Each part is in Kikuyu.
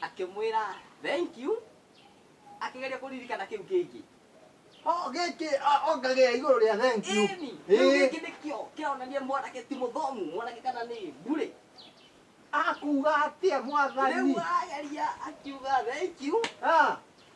akĩmwĩra thank you akĩgeria kũririkana kĩu kĩngĩ Oh, gĩkĩ ah, ongagĩra igũrũ rĩa thank you. Ĩni, kĩu Ĩĩ. kĩngĩ nĩkĩo kĩronania mwanake ti mũthomu mwanake kana nĩ ndurĩ Akuga atĩa mwathani? rĩu ageria akiuga thank you Ah,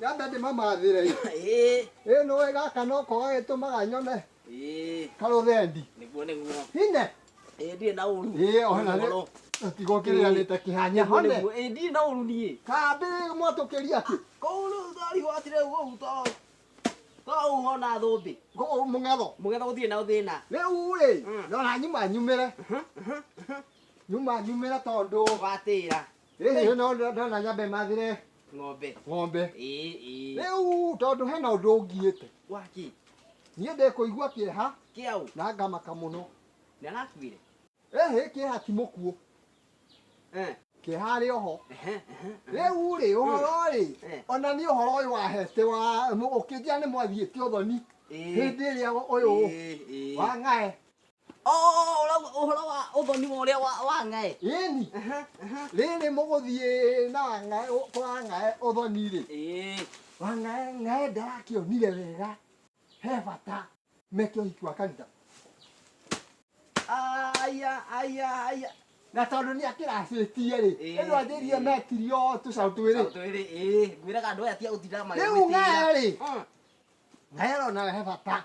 Yambe ndĩmamathĩre ĩ. Ĩĩ. Ĩĩ nĩũĩ gaka noko gagĩtũmaga nyone Ĩĩ. karũthendi. Nĩguo nĩguo. Hine. Ĩĩ ndirĩ na ũru. Ĩĩ ona nĩ Ũhoro. tiga ũkĩrĩanĩte kĩhanya Nĩguo hone. nĩguo. Ĩĩ ndirĩ na ũru niĩ. Kambĩ mwatũkĩria kĩ? Kũu rĩu thari watire ũguo to to ũhona thũmbĩ. Ngũkũ mũng'etho. Mũgetha gũtirĩ na thĩna. Rĩu rĩ, Mm. ndona nyuma nyumĩre. Nyuma nyumĩre tondũ Watĩra. Rĩu hena ũndũ ndona nyambe mathire ng'ombe ng'ombe rĩu tondũ hena ũndũ ũngiĩte waki niĩ ndĩkũigua kĩeha kĩau na ngamaka mũno nĩarakuire ĩhĩ kĩeha ti mũkuo eh. kĩeha arĩ oho rĩu rĩ ũhoro rĩ eh. ona niĩ ũhoro ũyũ wahete wa ũkĩnjia nĩ mwathiĩte ũthoni hĩndĩ ĩrĩa ũyũ wa ng'ae ũhoro wa ũthoni wa ũrĩa wa wa ng'aĩ ĩni rĩrĩ mũgũthiĩ na ng'aĩ kwa ng'aĩ ũthoni rĩ Ĩĩ. wa ng'aĩ ng'aĩ ndarakĩonire wega he bata meke ũhiki wa kanitha aya aya aya na tondũ nĩ akĩracĩtie rĩ Ĩĩ, ĩno anjĩrie ĩĩ. metirio tũcaũ twĩrĩ twĩrĩ ĩĩ ngwĩraga andũ aya tia gũtinda Rĩu ng'aĩ rĩ? ng'aĩ arona he bata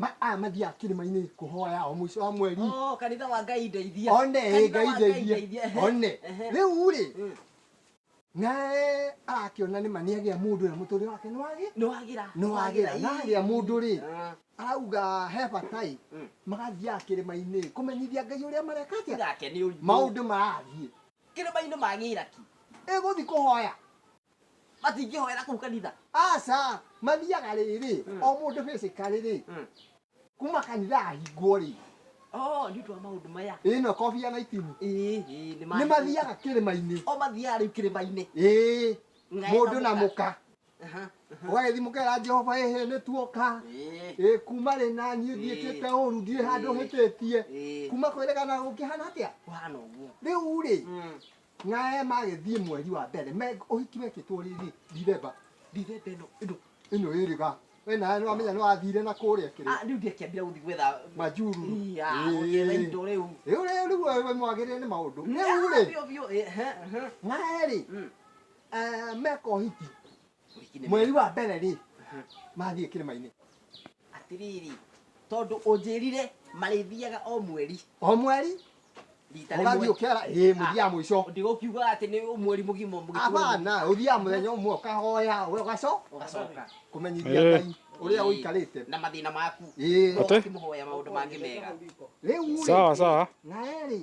Ma- aya mathiaga kĩrĩma-inĩ kũhoya o mũico wa mweri Oh, kanitha wa ngai ndeithia one ĩ, Kanitha ngai wa ndeithie ehe. one Ehe. rĩu rĩ Mm. naye arakĩona nĩma nĩagĩa mũndũ ũrĩa mũtũrĩre wake nĩwagĩ nĩwagira nĩwagĩra nagĩa mũndũ rĩ Ah. arauga he batai Mm. magathiaga kĩrĩma-inĩ kũmenyithia ngai ũrĩa mareka atĩa gake nĩ ũritũ maũndũ marathiĩ kĩrĩma-inĩ magĩra ki ĩgũthi kũhoya matingĩhoera kũu kanitha aca mathiaga rĩrĩ o mũndũ hĩcĩka rĩrĩ kuma kanitha ahingwo rĩ Oh, nĩ ũndũ wa maũndũ maya ĩno kobia na itimu Ĩĩ, ĩĩ, nĩ nĩ mathiaga kĩrĩma-inĩ o mathiaga rĩu kĩrĩma-inĩ ĩĩ Ngaĩ mũndũ na kamũka. mũka Aha. ũgagĩthi mũkera jehova ĩhĩ nĩ tuoka Ĩĩ, ĩ kuma rĩ na niĩ ndiĩkĩte ũru ndirĩ handũ hĩtĩtie Ĩĩ. kuma kwĩrĩgana gũkĩhana atĩa kũhana ũguo rĩu rĩ Mm. Na Ema agĩthiĩ mweri wa mbere, me ũhiki wekĩtwo rĩrĩ Dithemba, Dithemba ĩno ĩno ĩno ĩrĩ ga we nawe nĩ wamenya nĩ wathire na kũrĩa kĩrĩ Ah, rĩu ndiakĩambire gũthiĩ gwetha majuru Iya, gũkĩetha indo rĩu. rĩu rĩu rĩu wewe mwagĩrĩre nĩ maũndũ rĩu rĩ Biũ, biũ, eh, eh, eh. nawe rĩ Mm. eh, meka ũhiki mweri wa mbere rĩ mathiĩ kĩrĩma-inĩ atiriri tondũ ũnjĩrire marĩthiaga o mweri o mweri rita ũgathiĩ rĩmwe ũkera ĩ mũthiaga mũico ndigũkiuga atĩ nĩ mweri mũgima mũgĩtũra abana ũthiaga mũthenya ũmwe ũkahoya we ũgaco ũgacoka kũmenyithia Eh. ngai ũrĩa Ĩĩ. ũikarĩte na mathĩna maku Ĩĩ. no Ate? ũkĩmũhoya maũndũ mangĩ mega rĩu rĩ, Sawa, sawa. nawe rĩ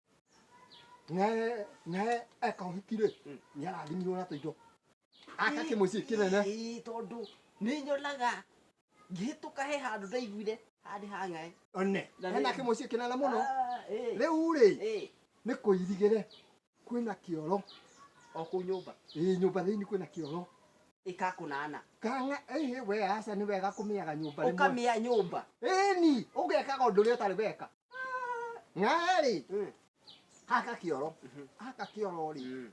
naye naye eka ũhiki rĩ nĩ arathimirwo na tũindo aka kĩmũciĩ kĩnene Ĩĩ, tondũ nĩ nyonaga ngĩhĩtũka he handũ ndaiguire handĩ hang'ae one Na nĩ- ena kĩmũciĩ kĩnene mũno rĩu rĩ nĩ kũirigĩre kwĩna kĩoro o kũu nyũmba ĩ nyũmba thĩinĩ kwĩna kĩoro ĩkakũnana kanga ĩhĩ we aca nĩ wega kũmĩaga nyũmba rĩmwe. ũkamĩa nyũmba ĩni ũgekaga ũndũ ũrĩa ũtarĩ weka ng'ahe rĩ Mm. haka kioro Mhm. haka kioro rĩ Mm.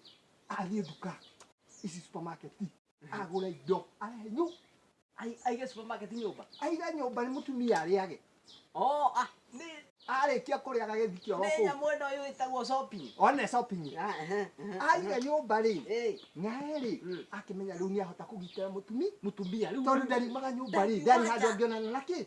athiĩ nduka ici supermarket agũre indo arehe nyu Ai- aige supermarket nyũmba aiga nyũmba nĩ mũtumia arĩage Oh, ah, nĩ- arĩkia kũrĩa agagĩthi kioro nĩ kũu nyamũ ĩno ĩyo ĩtagwo shopping. one shopping Ah, ehe, ehe, aiga ehe. nyũmba rĩ Eh, ng'ahe rĩ Mm. akĩmenya rĩu nĩ ahota kũgitĩra mũtumi mũtumia rĩu- tondũ ndariumaga nyũmba rĩ ndarĩ handũ angĩonana na kĩ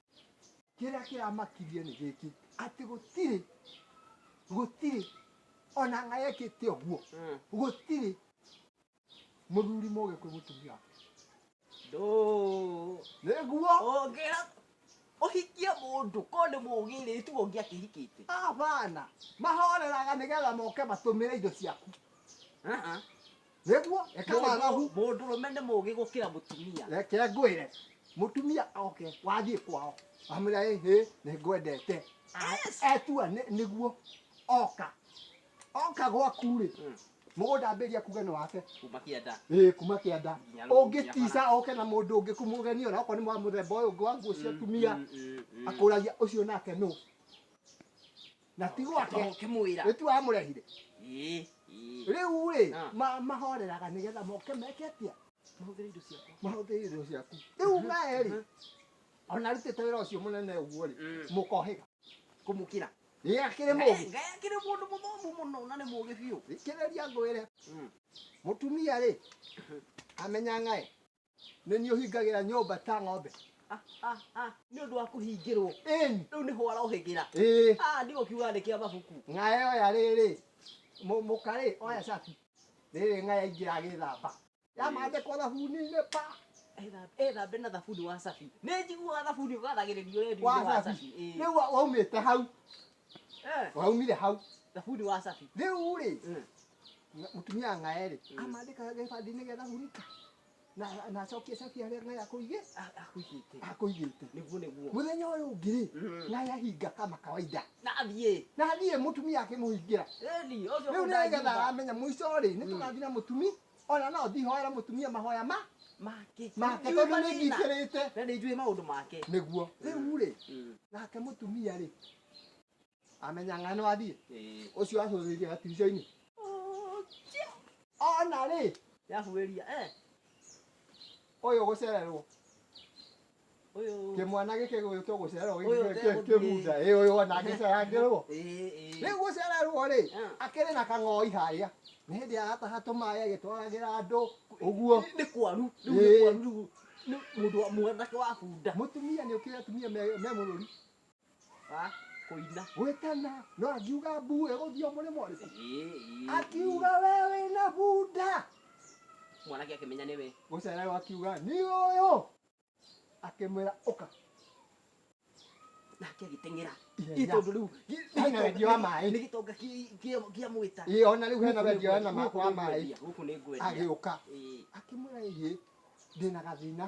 kĩrĩa kĩramakirie nĩ gĩkĩ atĩ gũtirĩ gũtirĩ ona ng'a yekĩte ũguo Mm. gũtirĩ mũthuri mũgĩ kwĩ mũtumia wake Ndũ. nĩguo Ũngĩra ũhikie mũndũ ko nĩ mũgĩrĩtu ũngĩ akĩhikĩte. abana mahoreraga nĩgetha moke matũmĩre indo ciaku Ah, ah. Nĩguo, reke Mũndũ- wagagu. mũndũrũme nĩ mũgĩ gũkĩra mũtumia Reke ngwĩre, mũtumia oke, wathiĩ kwao, wamwĩra ĩ hĩ, nĩ ngwendete. Yes. Etua nĩ- nĩguo, oka. Oka gwaku-rĩ, Mm. mũgũnda ambĩrĩria kuga nĩ wake. kuma kĩanda Ĩĩ, kuma kĩanda. Nginya rũgũrũ cia Ũngĩtica oke na mũndũ ũngĩ kũmũgeni ona okorwo nĩ wa mũthemba ũyũ ũngĩ wa nguo cia atumia, Mm, mm, mm. akũragia ũcio nake nũ? na ti gwake ũkĩmwĩra nĩ tu amũrehire Ĩĩ, ĩĩ. rĩu rĩ Ah. ma- mahoreraga nĩ getha moke meke atia mahũthĩre indo ciakwa mahũthĩre indo ciaku rĩu naye rĩ ona arutĩte wĩra ũcio mũnene ũguo rĩ Mm. mũkohĩga kũmũkĩra ĩ akĩrĩ mũgĩ ngaya kĩrĩ mũndũ mũthomu mũno na nĩ mũgĩ biũ thikĩrĩria ngwĩre Mm. mũtumia rĩ amenya ng'aĩ nĩ niĩ ũhingagĩra nyũmba ta ng'ombe Ah, ah, ah, nĩ ũndũ wa kũhingĩrwo ĩni rĩu nĩho warohĩgĩra ĩĩ Ah, nĩ gũkiuga andĩke a mabuku ng'aya oya rĩrĩ mũ- mũkarĩ oya cabi rĩrĩ ng'aya ingĩ agĩthamba yamandĩkwo thabuni-inĩ pa Etha- ethambe na thabuni wa cabi nĩ njiguaga thabuni ũgathagĩrĩrio wendio wa wa cabi cabi Ĩĩ. rĩu wa- waumĩte hau Eh, waumire hau thabuni wa cabi rĩu rĩ Mm. mũtumia ng'ae rĩ Mm. amandĩka gĩbandinĩ gĩa thabunita na na acokie cabi harĩa ng'ae akũigĩ A- akũigĩte akũigĩte nĩguo nĩguo mũthenya ũyũ ũngĩ rĩ Mm. ng'ae ahinga kama kawaida na athiĩ na thiĩ mũtumia akĩmũhingĩra ĩni ũcio rĩu nĩgetha kũndagiuga. amenya mũico rĩ nĩ tũgathiĩ na mũtumi ona no thihoera mutumia mahoya ma make make tondu ni ngikirite na ni njui maundu make niguo riu ri mm. nake mutumia ri amenya ng'a ni wathie ucio acururirie gatirica-ini ona ri yahuiria eh uyu gucererwo Uyu. Kimwana giki gwitwo gucererwo Uyu giki tegũthiĩ. kibunda. Ĩ uyu ona gicerangirwo. Ĩ ĩ. Rĩu gũcererwo rĩ, Ah. akĩrĩ na kang'oi harĩa. Nĩ hĩndĩ arataha tũmaĩ agĩtwaragĩra andũ ũguo. Nĩ kwaru. Rĩu nĩ Ĩ. kwaru rĩu. Nĩ mũndũ wa mwanake wa bunda. Mũtumia nĩ ũkĩrĩ atumia me me mũrũri. Ah, kũina gwĩtana no angiuga mbu ĩgũthio mũrĩmo ũrĩkũ Ĩĩ, ĩĩ, akiuga we wĩna bunda ĩĩ. mwanake akĩmenya nĩwe gũcererwo akiuga nĩ ũyũ akĩmwĩra ũka nake agĩteng'era Ihenya. Ĩ, tondũ rĩu gĩ- Hena wendi wa maĩ. nĩ gĩtonga kĩ- kĩa- kĩamwĩta ĩĩ ona rĩu hena wendia wena ma- wa maĩ gũkũ nĩ ngwendia agĩũka Ĩĩ. akĩmwĩra ĩĩ ndĩna gathĩna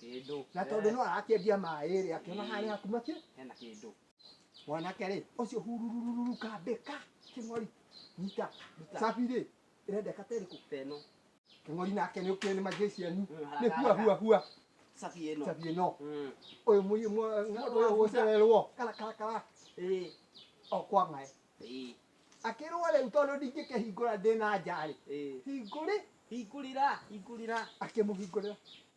Kĩndũ. Na tondũ no arakĩendia maĩ rĩ, akĩona harĩ haku makĩ. Hena kĩndũ. Mwanake rĩ, ũcio hururururu kambĩka kĩng'ori. Nyita. Cabi rĩ, ĩrendeka ta ĩrĩkũ? Ta ĩno. Kĩng'ori nake nĩ ũkĩũĩ nĩ manjĩĩ cianyu. Nĩ hua hua hua. Cabi ĩno. Cabi ĩno. Ũyũ mũi ũyũ gũcererwo. Kara kara kara. Ĩĩ. O kwa ng'aĩ. Ĩĩ. Akĩrwo rĩu tondũ ndingĩkĩhingũra ndĩ na nja rĩ. Ĩĩ. Hingũrĩ. Hingũrĩra. Hingũrĩra. Akĩmũhingũrĩra.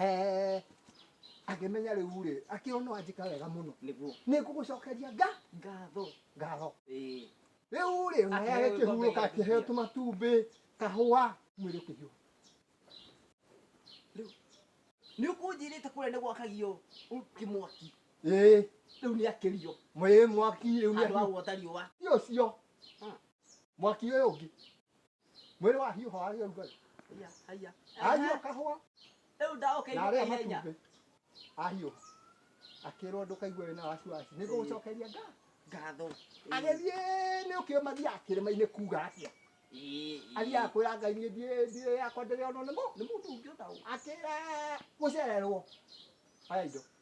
Eh, akĩmenya rĩu rĩ akĩona wanjĩka wega mũno nĩguo nĩ ngũgũcokeria nga ngatho ngatho ĩĩ rĩu rĩ naye Akĩheo agĩkĩhurũka gĩkombe akĩheo gĩa tũmatumbĩ kahũa mwĩrĩ ũkĩhiũha rĩu nĩ ũkũnjĩrĩte kũrĩa nĩ gwakagio kĩmwaki ĩĩ rĩu nĩ akĩrio mwĩrĩ mwaki rĩu nĩ andũ a akĩhiũha gwota riũa ti ũcio mwaki ũyũ ũngĩ Mwĩrĩ wa hiũha warĩ ũrugarĩ. Haiya, haiya. Ahiũha Ehe. kahũa Rĩu na ndaũkĩirio arĩa ihenya. matumbĩ. Ahiũha. Akĩrwo ndũkaigue wĩna wasiwasi. Nĩ ngũgũcokeria ngaa. Ngatho. Agĩthiĩ nĩ ũkĩũĩ mathiaga kĩrĩma-inĩ kuuga atĩa. Ĩĩ, ĩĩ. Athiaga kwĩra Ngai niĩ ndiĩ ndiĩ yakwa ndĩrĩonwo nĩ mũ- nĩ mũndũ ũngĩ o ta ũũ. Akĩra gũcererwo. Oya indo.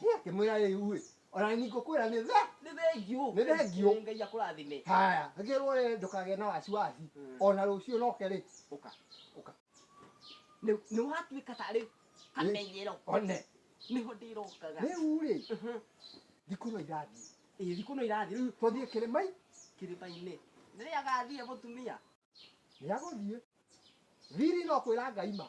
Nĩ akĩmwĩra rĩu-ĩ, ona nĩ ngũkwĩra nĩ tha. Nĩ thengiũ. Nĩ thengiũ. Ĩ, Ngai akũrathime. Haya, ngĩrwo rĩ ndũkagĩe na wasiwasi, Mm. ona rũciũ noke rĩ, Ũka. ũka. Nĩ nĩ watuĩka tarĩ kamenyero. One. Nĩho ndĩrokaga. Rĩu rĩ, Mhm. thikũ no irathiĩ. Ĩ, thikũ no irathiĩ rĩu Tũthiĩ kĩrĩma-inĩ. kĩrĩma-inĩ. Nĩ rĩagathiĩ mũtumia. Nĩagũthiĩ. Thiri no kwĩra Ngai ma.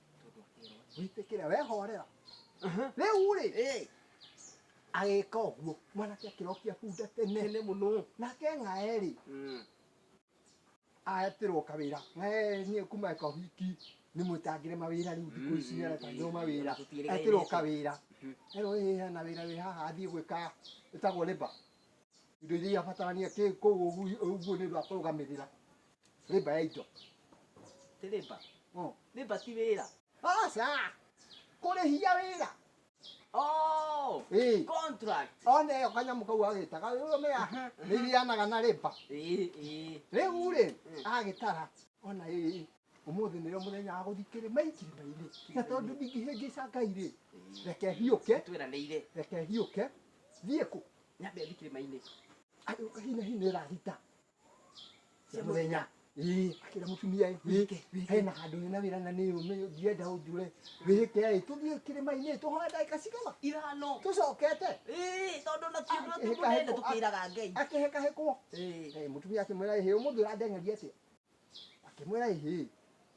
witikira wehorera riu ri Eh, agika uguo mwanake akirokia bunda tene tene muno nake ng'aeri Mm. atirwo kawira ng'aeri nie kuma eka wiki ni mwitangire mawira riu thiku ici ni aretangirwo mawira atirwo kawira ero ĩ hena wira wĩ haha athiĩ gwĩka ĩtagwo rĩba indo iria abatarania kĩ kũu ũguo nĩ ũndũ wa kũrũgamĩrĩra Rĩmba ya indo. Ti rĩmba. Mm. Rĩmba ti wĩra. Aca. Kũrĩhia wĩra. Oh, Ĩĩ. contract. Ona ĩyo kanyamũ kau agĩtaga ũrũme ya nĩ igianaga na rĩmba. Ĩĩ, ĩĩ. Rĩu rĩ Mm. agĩtara ona ĩĩ ũmũthĩ nĩrĩo mũthenya wa gũthiĩ kĩrĩma-inĩ kĩrĩma-inĩ na tondũ ndingĩhĩngĩca ngai rĩ Ĩĩ. reke hiũke Tweranĩire. reke hiũke thiĩ kũ Nyambe thiĩ kĩrĩma-inĩ. Ayũ, hina hina ĩrahita cia mũthenya Ii. akĩra mũtumia ĩ, Wĩke, wĩke. hena handũ hena wĩra na nĩ ũme ndienda ũnjũre wĩke ĩ tũthiĩ kĩrĩma-inĩ tũhoe ndagĩka cigana ithano tũcokete Ĩĩ, tondũ na ti ũndũ atĩ Akĩhĩka mũnene heko- tũkĩraga ngai akĩhĩkahĩkwo Ĩĩ. Eh, mũtumia akĩmwĩra ĩhĩ ũmũthĩ ũrandengeria atĩa akĩmwĩra ĩhĩ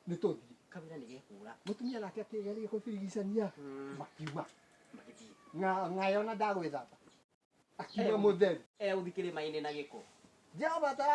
nĩ tũthiĩ kawĩra nĩ gekũra mũtumia nake akĩgeria kũbirigicania makiuma magĩthiĩ na ngayona ndagwĩthamba akiuma mũtheru e ũthikĩrĩmainĩ na gĩko jehova atara